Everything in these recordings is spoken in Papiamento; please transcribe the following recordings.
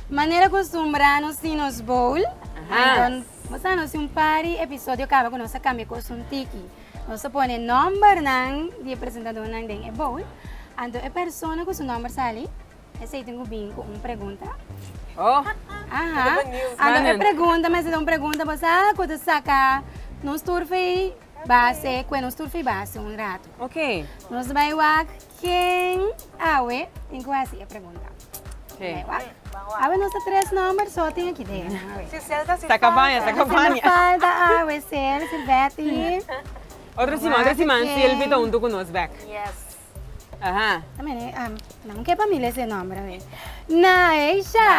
Manera kostumbra nos tin nos bowl. Anton bo sa nos tin un pari episodio kaba ku nos a kambia kos un tiki. Nos a pone nòmbernan di e presentadónan den e bowl. Anto e persona ku su nòmber sali esei tin ku bini ku un pregunta. Anto e pregunta mester ta un pregunta bo sa ku ta saka nos tur fi base ku e nos tur fi base un ratu. Nos bai wak. Ken awe tin ku hasi e pregunta? Ken? Awe nos ta tres nòmber so tin aki den. Si sèl ta si falta. Ta kabaña, ta kabaña. Si falta awe, sèl, silbèt i. Otro siman, otro siman silbi ta huntu ku nos bèk. Yes. Aha. Nan no ke pa mi lesa e nòmber awe. Naisha.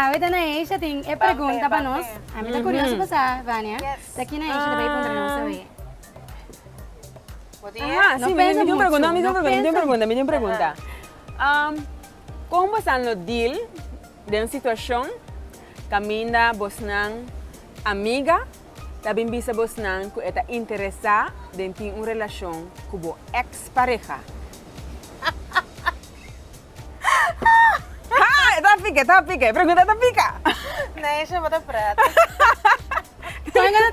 Awe ta Naisha tin e pregunta pa nos. Ami ta kurioso pa sa, Vania. Yes. Sa ki Naisha ta bai puntra nos awe? Bo tin e? Aha, si, mi tin un pregunta, mi tin un pregunta, mi tin un pregunta, mi tin un pregunta. Kon bosa lo deal den un situashon kaminda bosnan amiga ta bin bisa bosnan ku e ta interesá den tin un relashon ku bo èks pareha? Haa, e ta pika, e ta pika, e pregunta ta pika! Neisha bo ta prata. Ela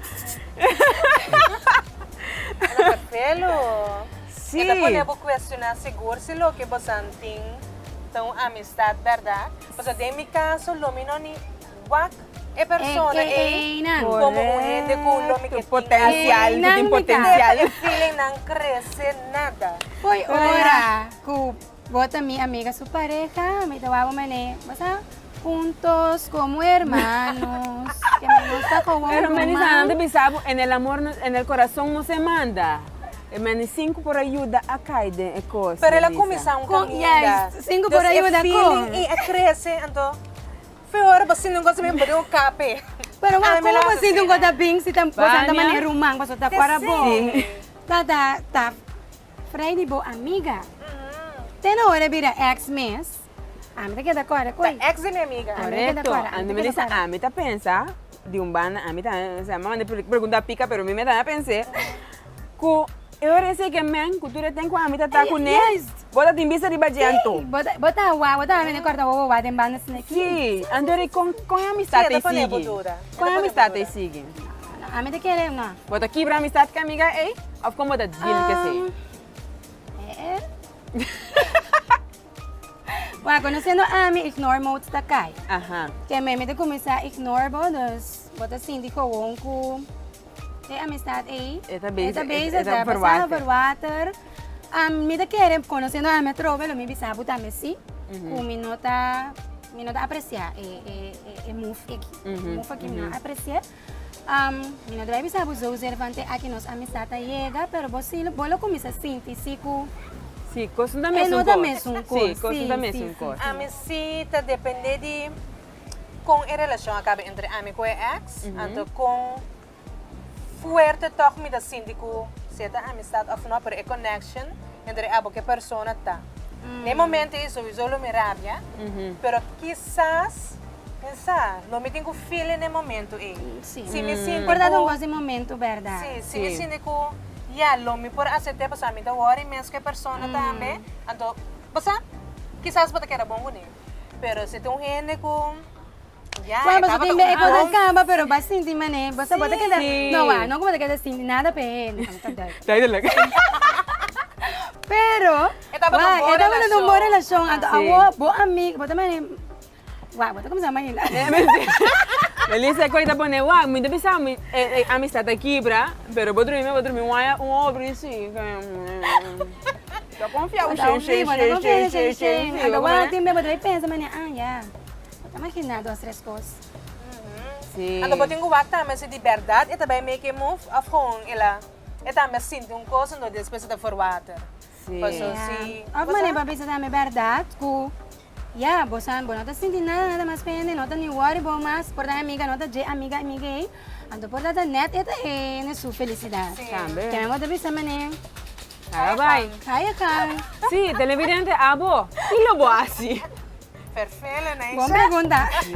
ta pelu. Sí. E ta pone bo cuestiona sigur si loke bosan tin ta un amistad berda. Pasobra den mi caso lo mi no ni wak e persona ei como un hende cu lo mi ke tin. Potencial, cu tin potencial. Feelingnan crece nada. Poi ora cu. Bo ta mi amiga su pareha, mi ta wou man'é bo sa huntos komo hermanos, ke mi nos ta kowou ruman. Pero mani sa nan ta bisa bo, en el amor nos, en el corazón nos e manda. E mani sinku por a yuda a kai den e kos, Pero el a kuminsá un Kon, kaminda. yes, sinku por a yuda kon. Entonces e feeling i a krese, anto few ora bo sinti un kos men bo den un kape. Pero wou, komo bo sinti un kos ta bing si ta, boso a ta man'é ruman, boso ta kora bo. Bania. Ta, ta, ta. Fray di bo amiga. Te na ora e bira ex mes. Ami ta keda kòrda ku ei. Ta ex di mi amiga. Korekto. Anto mi disa ami ta pensa di un banda ami ta mi manda e pregunta pika pero mi ta pens'e ku e ora esei ke men ku tur e tempo ami ta ta kuné bo ta tin bista riba dje anto. Si bo ta wak bo ta wene kòrda wawawá den banda sneki. Si anto kon e amistat ei sigui. Kon e amistat ei sigui. Na ami ta kere un a. Bo ta kibra amistad cu e amiga ey of con bo ta deal cu esey? Umm, eh eh. Bueno, conociendo ami, ignore mode ta cay. Aha. Ke me mi ta cuminsa ignore bo, dus bo ta sinti gewoon cu e amistad ey. E ta bezig. E ta bezig, e ta verwater. E ta verwater. Am, mi ta kere, conociendo ami atrobe, lo mi bisa bo tambe si, cu mi no ta, mi no ta aprecia e move aki. E move aki mi no a aprecia. Am, Mi no debe bisa bo zozeer van te aki nos amistad a yega, pero bo si lo, bo lo cuminsa sinti si cu. Si, cosnan ta mesun cor. E no ta mesun cor, si. Si, cosnan ta mesun cor. Ami si ta depende di con e relacion a caba entre ami cu e ex, anto con fuerte tog mi ta sinti cu sea ta amistad of no, pero e connection entre abo cu e persona ta. Na e momento ei sowiso lo mi rabia, pero kisas. N sa, lo mi tin ku feeling den momentu ei. Si, si mi sinti ku. Por ta don gosi momentu berdad. Si, si mi sinti ku ya lo mi por asept'é pasobra mi ta wòrì mes ku e persona tambe, anto bo sa, kisas bo ta keda bon kuné. Pero si ta un hende ku ya e tabata un bon. E kos kaba pero bo a sinti manera ei, bo sa bo ta keda, no wa, no ku bo ta keda sinti nada pa e hende, bo ta dòi. Duidelijk. Pero, wa, e tabata un bon relashon, anto awor bo amig, bo ta manera. Wak, bo ta kuminsá mañana. Melissa e koi ta pone wak, mi ta bisa e amistad ta kibra, pero bo drumi, bo drumi waya un obra i si. Ta konfiá un shei, shei, shei, shei, shei. Ando wak tin be, bo debe pensa manera, ah ya, bo ta maginá dos, tres kos. Si. Anto bo tin ku wak tambe si di bèrdat e ta bai make e move òf gewoon e la, e tambe a sinti un kos anto despues e ta for water? Sí. Paso si. Of manera pa bisa tambe berdad cu ya, bo sa, bo no ta sinti nada, nada mas pende, no ta ni worry bo mas por ta e amiga, no ta dje amiga, amiga ey, anto por dat net e ta hende su felicidad. Sí. Tambe. Tambe bo ta bisa, Meneer. Ga ga bay. Ga je gang. Sí, televidente abo, kilo bo haci? Vervelen ey. Bon pregunta. Sí.